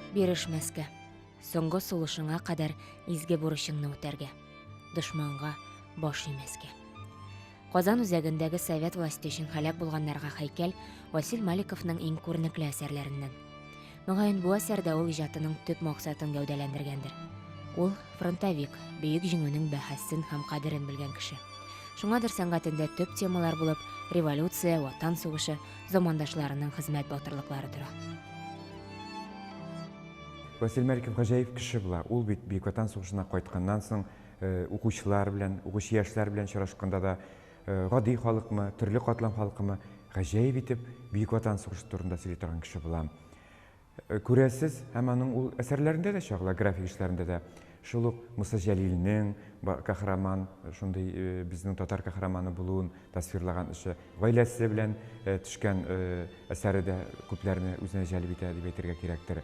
Бирешмәскә, соңгы сулышыңа кадәр изге бурычыңны үтәргә, дошманга баш имәскә. Казан үзәгендәге совет власте өчен һәлак булганнарга һәйкәл Васил Маликовның иң күренекле әсәрләреннән. Мөгаен, бу әсәрдә ул иҗатының төп максатын гәүдәләндергәндер. Ул, фронтовик, бөек җиңүнең бәһасен һәм кадерен белгән кеше. Шуңадыр сәнгатендә төп темалар булып революция, ватан сугышы, замандашларының хезмәт батырлыклары тора. Василий Маликов гаҗәеп кеше була. Ул бит Бөек Ватан сугышына кайтканнан соң, э, укучылар белән, укучы яшьләр белән очрашканда да, гади халыкмы, төрле катлам халкымы, гаҗәеп итеп Бөек Ватан сугышы турында сөйли торган кеше булам. Э, күрәсез, һәм аның ул әсәрләрендә дә чагыла, график эшләрендә дә. Шул ук Муса Җәлилнең каһарман, э, шундый э, безнең татар каһарманы булуын тасвирлаган эше, гаиләсе белән төшкән әсәре дә күпләрне үзенә җәлеп итә дип әйтергә кирәктер.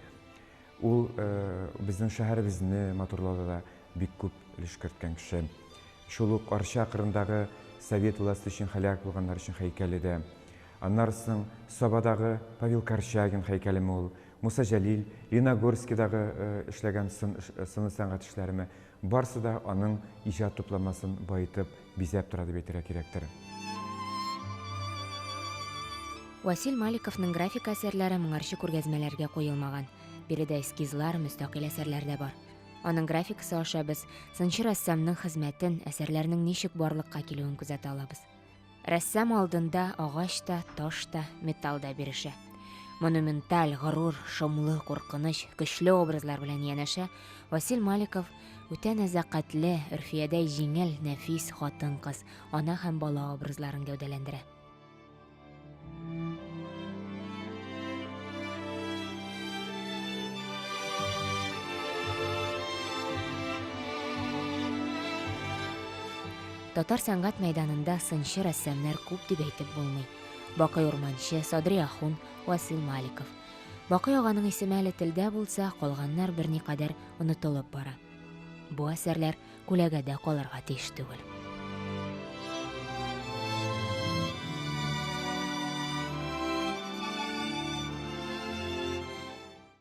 Ул безнең шәһәребезне матурлауда да бик күп өлеш керткән кеше. Шул ук Арча кырындагы совет власте өчен һәлак булганнар өчен һәйкәле дә. Аннары соң Сабадагы Павел Корчагин һәйкәлеме ул, Муса Җәлил, Леногорскидагы эшләгән сыны сәнгать эшләреме, барысы да аның иҗат тупламасын баетып, бизәп тора дип әйтергә кирәктер. Васил Маликовның графика әсәрләре моңарчы күргәзмәләргә куелмаган. Биредә эскизлар, мөстәкыйль әсәрләр дә бар. Аның графикасы аша без сынчы рәссамның хезмәтен, әсәрләрнең ничек барлыкка килүен күзәтә алабыз. Рәссам алдында агач та, таш та, металл да бирешә. Монументаль, горур, шомлы, куркыныч, көчле образлар белән янәшә Васил Маликов Үтә нәзакәтле, Өрфиядәй җиңел, нәфис хатын-кыз, ана һәм бала образларын гәүдәләндерә. Татар сәнгать мәйданында сынчы рәссамнар күп дип әйтеп булмый. Бакый Урманчы, Садри Ахун, Васил Маликов. Бакый аганың исеме әле телдә булса, калганнар берникадәр онытылып бара. Бу әсәрләр күләгәдә калырга тиеш түгел.